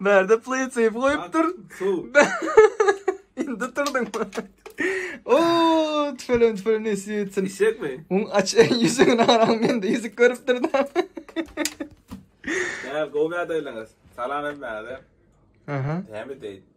Bärde pleýtseýp goýupdyr. Indi turdyň. O, tüfelen tüfelen nesip etsin. Işekmi? Oň aç ýüzüni aram mende ýüzük görüpdir da. Ä, gowy ýagdaýlaryňyz. Salam hem bärde. Aha. Hem deýin.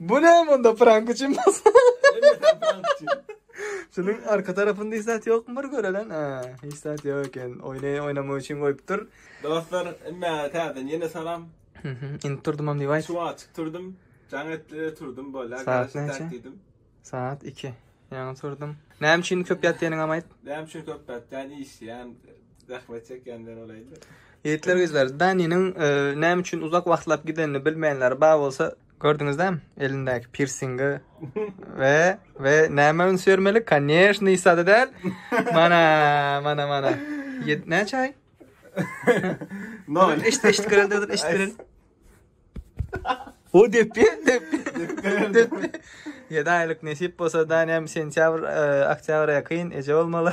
Bu näme onda prank üçin bolsa. Şunuň arka tarapynda hiç zat ýokmy bir görelen? Ha, hiç zat ýok eken. Oýny oýnamak üçin goýupdyr. Dostlar, inne täzeden ýene salam. Inip turdumam diýip aýt. Suwa açyk turdum. Jaň etdi, turdum bolýar. Saat näçe? Saat 2. Ýaňy turdum. Näme üçin köp ýatýanyňam aýt. Näme üçin köp ýatýan? Işleýän, zähmet çekýänden olaýdy. Ýigitler, gyzlar, Daniniň e, näme üçin uzak wagtlap gidenini bilmeýänler bar bolsa, Gördüňizdem elindäki pirsingi we we näme üns bermeli? Koneşni sada däl. Mana, mana, mana. Ýet näçe aý? No, eşit eşit görelde dur, eşit görel. O depi, depi. Depi. Ýedi aýlyk nesip bolsa da näme sentýabr, e, oktýabra ýakyn eje bolmaly.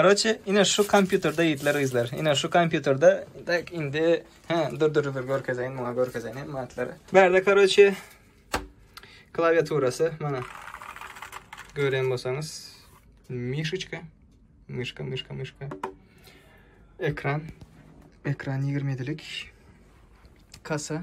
Karoçe ine şu kompýuterde ýigitler gyzlar. Ine şu kompýuterde tak indi he dur dur dur görkezeýin muňa görkezeýin hem matlary. Bärde karoçe klawiaturasy mana gören bolsaňyz mişiçka myşka myşka myşka ekran ekran 27 lik kasa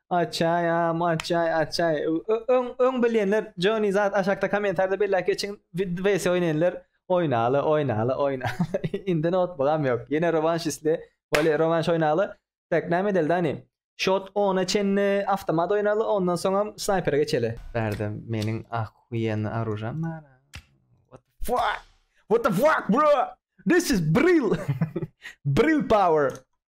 Açaýam açaý açaý. Öň öň bilýänler Johnny zat aşakda kommentarda belläp geçiň. VS oýnaýanlar oýnaly oýnaly oýna. Indi notbugam ýok. Ýene rovanş isle. Wale rovanş oýnaly. Tak näme edeli dani? Shot 10-a çenli avtomat oýnaly, ondan soňam snaypere geçeli. Bärde meniň ahuýenli aružam bar. What the fuck? What the fuck bro? This is bril. bril power.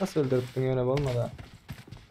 Nasıl öldürüp dünyana olmadı?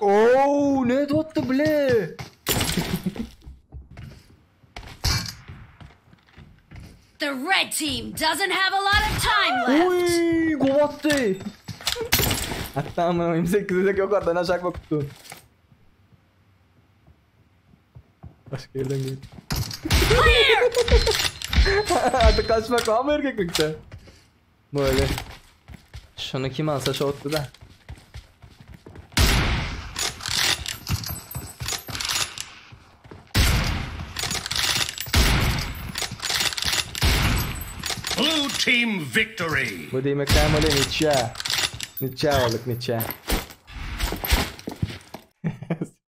Ooo ne tuttu bile. The red team doesn't have a lot of time left. Uy kovattı. Hatta ama 28 dek yok adana şak bakıttı. Başka yerden gel. Artık kaçmak var mı erkeklikte? Böyle. Şunu kim alsa şu otdu da. Blue team victory. Bu demek ben böyle niçe. Niçe olduk niçe.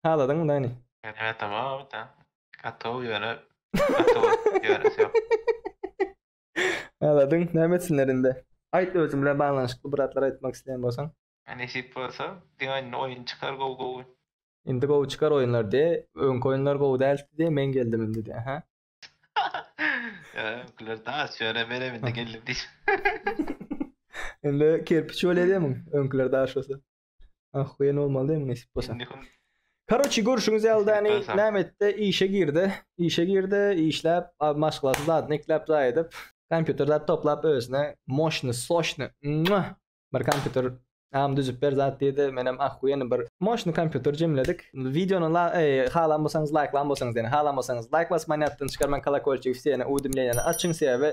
Haladyňmy Dani? Meniň atam Abyt a. Atow ýöne atow ýöresi ýok. Haladyň, näme etsinler indi? Aýt özüň bilen baglanyşykly bir zatlar aýtmak isleýän bolsaň. A nesip bolsa diňe indi oýun çykar gowy gowy. Indi gowy çykar oýunlar diýe. Öňki oýunlar gowy däldi diýe, men geldim indi diýe. Hä? Ýa öňküler daş ýöne menem indi geldim diýip. Indi kerpiç bolýa diýemiň öňküler daş bolsa. Ahuýen bolmaly diýmiň nesip bolsa. Karoçi görüşüňiz ýaldany näme etdi? Işe girdi. Işe girdi, işläp, maşgalasy zadyny ekläp zaý edip, kompýuter zat toplap özüne moşny, soşny, mua! Bir kompýuter am düzüp ber zat diýdi. Menem ahuýen bir moşny kompýuter jemledik. Wideony la, eý, halan bolsaňyz laýklan bolsaňyz ýene, halan bolsaňyz laýk basman ýatdan çykarmaň, kolokolçigi wsýene, uwdemleniýany açyň sebäbi